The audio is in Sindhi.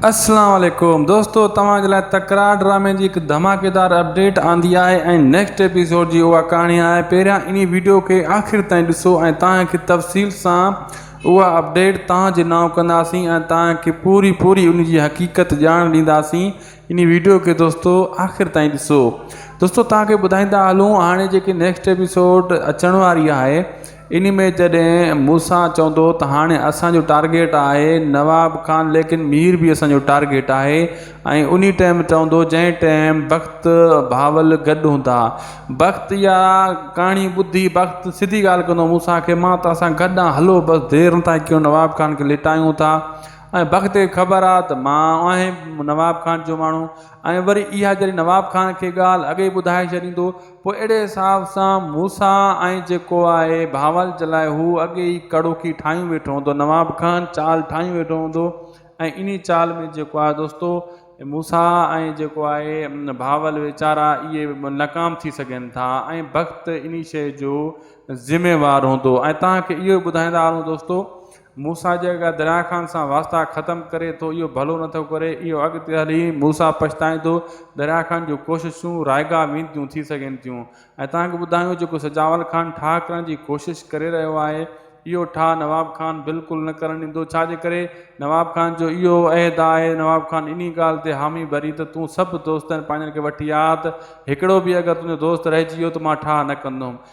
اسلام عليڪم دوستو توهان جي لاء تڪرار ڊرامي جي هڪ ڌماڪيدار اپڊيٽ آندي آهي ۽ نيڪسٽ ايپيسوڊ جي اها ڪهاڻي آهي پهريان انهي ويڊيو کي آخر تائين ڏسو ۽ توهان کي تفصيل سان اها اپڊيٽ توهان جي نانء ڪنداسين ۽ توهان کي پوري پوري ان جي حقيقت ڄاڻ ڏينداسين انهي ويڊيو کي دوستو آخر تائين ڏسو دوستو توهان کي ٻڌائيندا هلون هاڻي جيڪي نيڪسٽ ايپيسوڊ اچڻ واري آهي انهي ۾ جڏهن موسيٰ چوندو ته هاڻي اسان جو ٽارگيٽ آهي نواب خان ليڪن مير به اسان جو ٽارگيٽ آهي ۽ انهي ٽئم چوندو جنهن ٽئم بخت بهاول گڏ هوندا بخت اها ڪهاڻي ٻڌي بخت سڌي ڳالهه ڪندو موسيٰ کي مان توهان سان گڏ آهيان هلو بس دير نه ٿا ڪيون نواب خان کي لٽايون ٿا ۽ بخت کي خبر آهي ته مان آهي نواب خان جو ماڻهو ۽ وري اها جڏهن نواب خان کي ڳالهه اڳي ٻڌائي ڇڏيندو پوء اهڙي حساب سان موسيٰ ۽ جيڪو آهي بهاولج لاء هو اڳي ئي ڪڙوڪي ٺاهيون ويٺو هوندو نواب خان چال ٺاهيون ويٺو هوندو ۽ انهي چال ۾ جيڪو آهي دوستو موسيٰ ۽ جيڪو آهي بهاول ويچارا اهي ناڪام ٿي سگهن ٿا ۽ بخت انهي شيء جو ذميوار هوندو ۽ توهان کي اهو ٻڌائيندا هلون دوستو موسيٰ جي اڳيان درياهه خان سان واسطا ختم ڪري ٿو، اهو ڀلو نه ٿو ڪري، اهو اڳتي هلي موسيٰ پڇتائيندو، درياهه خان جون ڪوششون رائيگاهه وينديون ٿي سگهن ٿيون ۽ توهان کي ٻڌايون جيڪو سجاول خان ٺاهه ڪرڻ جي ڪوشش ڪري رهيو آهي، اهو ٺاهه نواب خان بلڪل نه ڪرڻ ڏيندو، ڇا جي ڪري نواب خان جو اهو عهد آهي، نواب خان انهي ڳالهه تي حامي ڀري ته تون سڀ دوستن پنهنجن کي وٺي آ ته هڪڙو به اگر تنهنجو دوست رهجي ويو ته مان ٺاهه نه ڪندوم،